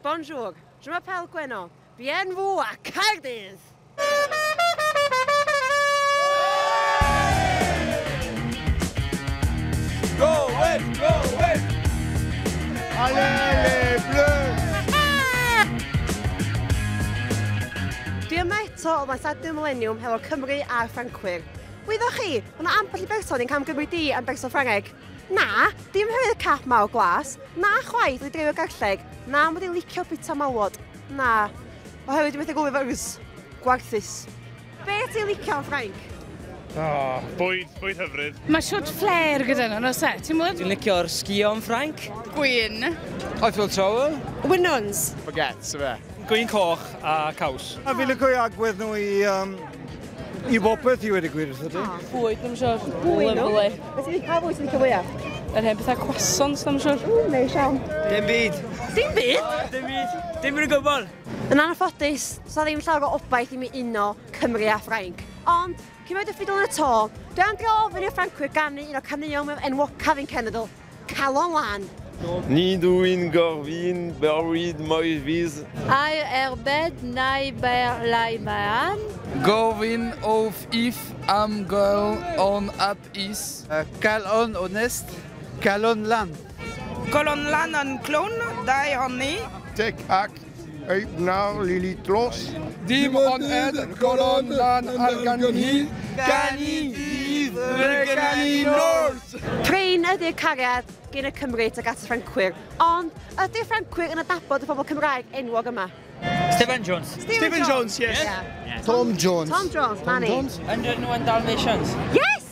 Bonjour, je m'appelle Gwenno. Bienvenue à Caerdydd! Go Wyn! Go Wyn! Ale, ale, bleu! Dwi yma eto o Fansadyn Millennium hefo Cymru a'r Ffrancwyr. Wyddoch chi, mae yna ambell i berson yn camgymryd di am berson Ffrangeg. Na, dim hefyd y cap mawr glas, na chwaith wedi dreifio garlleg, na am fod i'n licio bita malwod, na, oherwydd dwi methu gwylio fo yrrs, gwarthus. Be ti'n licio am Ffrainc? Oh, bwyd, bwyd hyfryd. Mae shwt flair gyda nhw, nos e, ti'n mwyn? Dwi'n licio'r sgio yn Ffrainc. Gwyn. Eiffel Tower. Winons. Baguettes, fe. Gwyn coch a caws. A fi'n licio agwedd nhw i um, I bopeth i wedi gwir wrtho ti. Bwyd, ddim siwr. Bwyd, no? Beth ti'n pa fwyd ti'n licio fwyaf? Yr hen pethau cwason, ddim siwr. Ww, neis iawn. Dim byd. Dim byd? Dim byd. Dim byd yn gwybod. Yn anffodus, sa ddim llawer o obaith i mi uno Cymru a Ffrainc. Ond, cymaint y ffidl yn y to, dwi am drio ofyn i'r Ffrancwyr ganu un o caneuon mwyaf enwocaf yn cenedl. Calon lan. Nid yw'n gorfyn bywyd mwy fydd. Air er bed nai bair lai baean. Gofyn off if am girl on at is. Calon onest, calon lan. Calon lan yn clwn, dau honni. Tec ac ei wna'r lili dlos. Dim ond ed golon lan ar gan hi, gan i ddydd gan i nos. Prin ydy'r cariad gyn y Cymry tuag at y Ffrancwyr, ond ydy'r Ffrancwyr yn adnabod y pobl Cymraeg enwog yma? Stephen Jones. Stephen, Stephen Jones, Jones yes. Yeah. Yeah. Tom Jones. Tom Jones, Manny. Tom Jones. 101 Dalmatians. Yes!